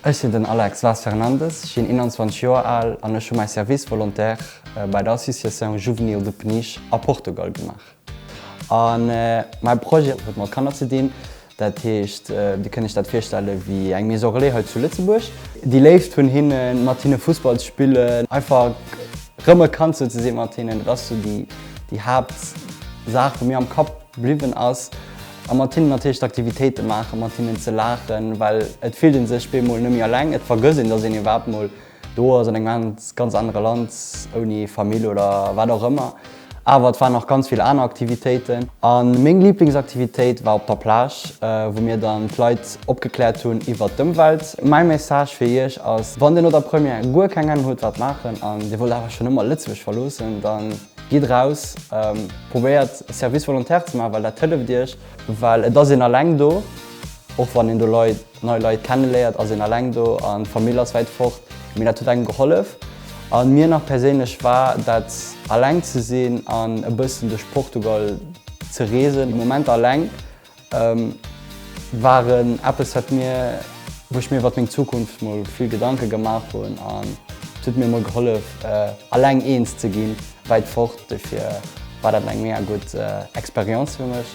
Ech sinn den Alex Vaz Fernandes, ech sinn 21 Joer al an ech hu mäi Service volontaire bei der Association Juvenil de Peniche a Portugal gemaach. A mäi Projet huet mat Kanner ze dinn, dat heescht, Dir kënnt Iech dat virstelle wéi eng Maison Relais hei zu Lëtzebuerg. Déi Léift vun hinnen, mat hinne Fussball ze spillen, einfach rëm e Kand sou ze si mat hinnen, dat ass sou déi Haaptsaach, déi mir am Kapp. Bliwwen ass a mat hinnen natierlech d'Aktivitéite maachen, mat hinnen ze laachen, well et fillt ee sech bemol net méi eleng. Et vergësst een, datt een iwwerhaapt mol do ass, an engem anert, ganz anere Land, ouni Famill oder wat och ëmmer. Awer et waren nach ganz vill aner Aktivitéiten. A meng Liblingsaktivitéit war op der Plage, wou mir dann d'Leit opgekläert hunn iwwert d'Ëmwelt. Mäi Message fir iech ass, Wann dir no der Première guer keng Ahnung hutt wat maachen, an dir wollt awer schonn ëmmer Lëtzebuerg verloossen, dann. Gitt raus, probéiert Service volontaire ze maachen, well dat hëlleft iech. Well et ass een alleng do. Och wann een do Leit, nei Leit kenneléiert, ass een alleng do an d'Famill ass wäit fort. Mee dat huet engem gehollef. A mir nach perséinlech war dat alleng ze sinn an e bëssen duerch Portugal ze reesen, Momenter alleng. Waren eppes wat mir wou ech mir iwwert meng Zukunft mol vill Gedanke gemaach hunn an et huet mir mol gehollef alleng eens ze ginn wäit fort. Dofir war dat eng mega gutt Experience fir mech.